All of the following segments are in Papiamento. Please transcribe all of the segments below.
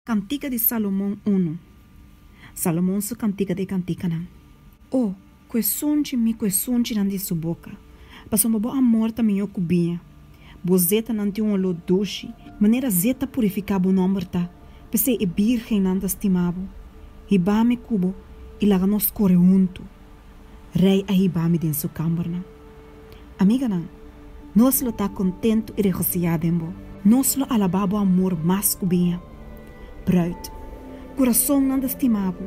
Kantika di Salomon unu. Salomon su kantika ta e kantikanan. O, ku esunchi mi ku esunchinan di su boka, pasobra bo amor ta mihó ku biña, bo zetanan tin un oló dushi. Manera zet ta purifiká bo nòmber ta, p'esei e bírgennan ta stima bo. Hiba mi ku bo i laga nos kore huntu. Rei a hiba mi den su kámbernan. Amiganan, nos lo ta kontentu i regosiyá den bo. Nos lo alabá bo amor mas ku biña. Bruid, kurasonnan ta stimá bo,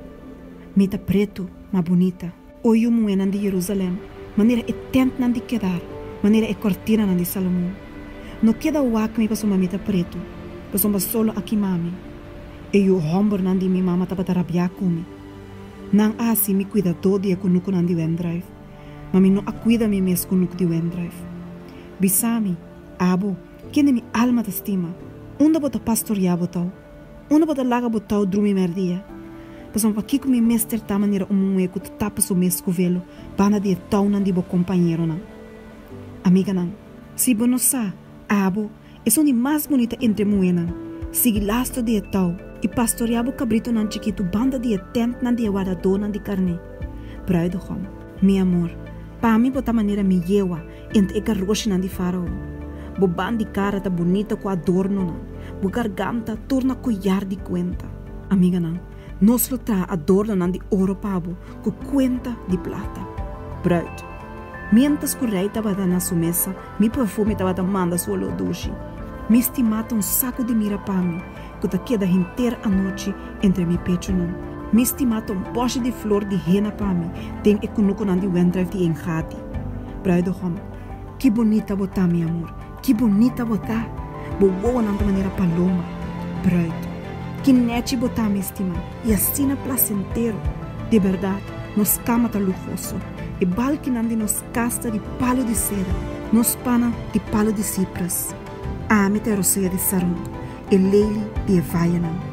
mi ta pretu, ma bunita. O yu muhénan di Jerusalèm, manera e tèntnan di Kedar, manera e kòrtinanan di Salomon. No keda wak mi pasobra mi ta pretu, pasobra solo a kimá mi. E yu hòmbernan di mi mama tabata rabiá ku mi. Nan a hasi mi kuidadó di e kunukunan di wèndrùif. Ma mi no a kuida mi mes ku nuk di Wendrive. Bisa mi, Abo, kende mi alma ta stima, unda bo ta pastoreá bo tau? Unda bo ta laga bo tau drumi mèrdia? Pasobra pakiko mi mester ta manera un muhé ku ta tapa su mes ku velo banda di e taunan di bo kompañeronan? Amiganan, si bo no sa, Abo, Esun di mas bunita entre muhénan. Sigui lastro di e tou i pastoreá bo kabritonan chikitu banda di e tèntnan di e wadadónan di karné. Bruidegom, mi amor, pa mi bo ta manera mi yewa entre e karoshinan di Fárao. Bo ban di kara ta bunita ku adornonan, bo garganta tur na koyar di kuenta. Amiganan, nos lo traha adornonan di oro pa bo ku kuenta di plata. Bruid, Miéntras ku rei tabata na su mesa, Mi perfume tabata manda su oló dushi. Mi stimá ta un saku di mira pa mi, ku ta keda henter anochi entre mi pechunan. Mi stimá ta un bòshi di flor di hena pa mi, den e kunukunan di wèndrijf di Engadi. Bruidegom, ki bunita bo ta, mi amor, ki bunita bo ta! Bo wowonan ta manera paloma. Bruid, ki nèchi bo ta, mi stimá, i asina plasentero! Di bèrdat, nos kama ta luhoso. E balkinan di nos. Kasta di palu di sera. Nos pana di palu di sipras. Ami ta e rosea di Saron. E leli di e vayanan.